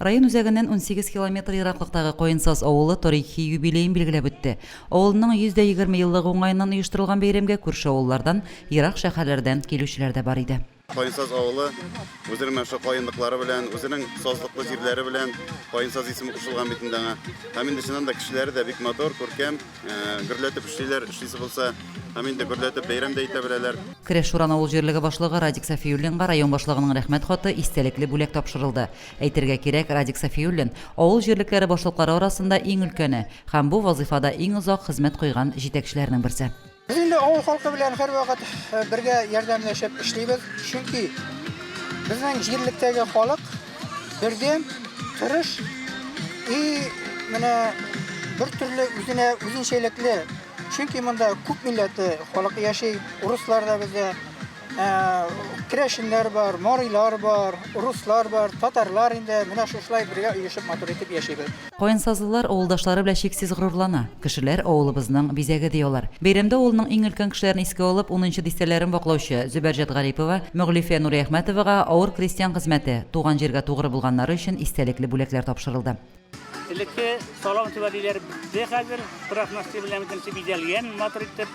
Район үзәгеннән унсигез километр ераклыктагы Каенсаз авылы тарихи юбилеен билгеләп үтте. Авылының 120 еллыгы уңаеннан оештырылган бәйрәмгә күрше авыллардан, ерак шәһәрләрдән килүчеләр дә бар иде. Каенсаз авылы үзенең менә шул каенлыклары белән, үзенең сазлыклы җирләре белән Каенсаз исеме кушылган бит инде аңа. Һәм инде чыннан да кешеләре дә бик матур, күркәм. Гөрләтеп эшлиләр, эшлисе булса, һәм инде гөрләтеп бәйрәм дә итә беләләр. Кереш Шуран авыл җирлеге башлыгы Радик Сафиуллинга район башлыгының рәхмәт хаты, истәлекле бүләк тапшырылды. Әйтергә кирәк, Радик Сафиуллин, авыл җирлекләре башлыклары арасында иң өлкәне һәм бу вазыйфада иң озак хезмәт куйган җитәкчеләрнең берсе. Без инде авыл халкы белән һәрвакыт бергә ярдәмләшеп эшлибез, чөнки безнең җирлектәге халык, Бердәм, тырыш и менә бер төрле үзенә үзенчәлекле. Чөнки монда күп милләте халык яши. Урыслар да бездә, ә, керәшеннәр бар, марилар бар, руслар бар, татарлар инде менә шушылай бергә оешып матур итеп яшибез. Каенсазлылар авылдашлары белән чиксез горурлана. Кешеләр, авылыбызның бизәге, ди алар. Бәйрәмдә авылның иң өлкән кешеләрен искә алып, унынчы дистәләрен ваклаучы Зөбәрҗәт Гарипова, Мөглифә Нуриәхмәтовага авыр крестьян хезмәте, туган җиргә тугры булганнары өчен истәлекле бүләкләр тапшырылды. Элекке салам түбә диләр бе хәзер, торак настил белән бөтенесе бизәлгән матур итеп.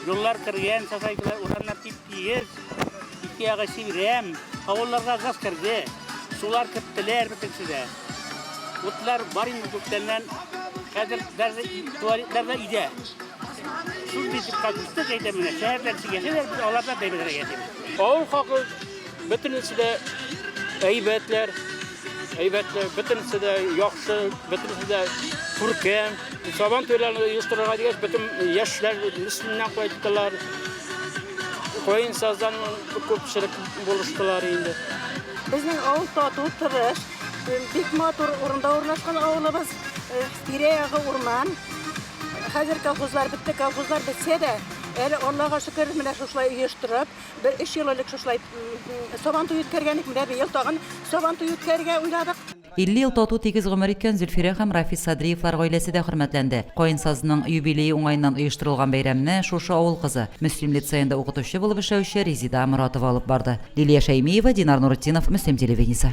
Юллар кергән, сасайтылар, урамнар тип-тиез, ике ягы чирәм. Авылларга газ керде, сулар киттеләр бөтенесе дә. Утлар бар инде күптәннән. Хәзер даже туалетларда идә. Шул битеп катышты әйтә менә. Шәһәрдән чигәсәләр, без аларда бәйбәләргә яшибез. Авыл халкы бөтенесе дә әйбәтләр. Әйбәтләр, бөтенесе дә яхшы, бөтенесе дә күркәм. Сабан туйларын оештырырга дигәч, бөтен яшьләр мисленнән кайттылар. Каен саздан күпчелек булыштылар инде. Безнең авыл тату, тырыш, бик матур урында урнашкан авылыбыз. Тирә-ягы урман. Хәзер колхозлар бетте, колхозлар бетсә дә, әле Аллага шөкер, менә шушылай оештырып, бер өч ел элек шушылай Сабантуй үткәргән идек, менә быел тагын Сабантуй үткәрергә уйладык. 50 ел тату тигез гомер иткән Зөлфирә һәм Рафис Садриевлар гаиләсе дә хөрмәтләнде. Каенсазның юбилее уңаеннан оештырылган бәйрәмне шушы авыл кызы, Мөслим лицеенда укытучы булып эшләүче Резида Моратова алып барды. Лилия Шәймиева, Динар Нуретдинов, Мөслим телевидениесе.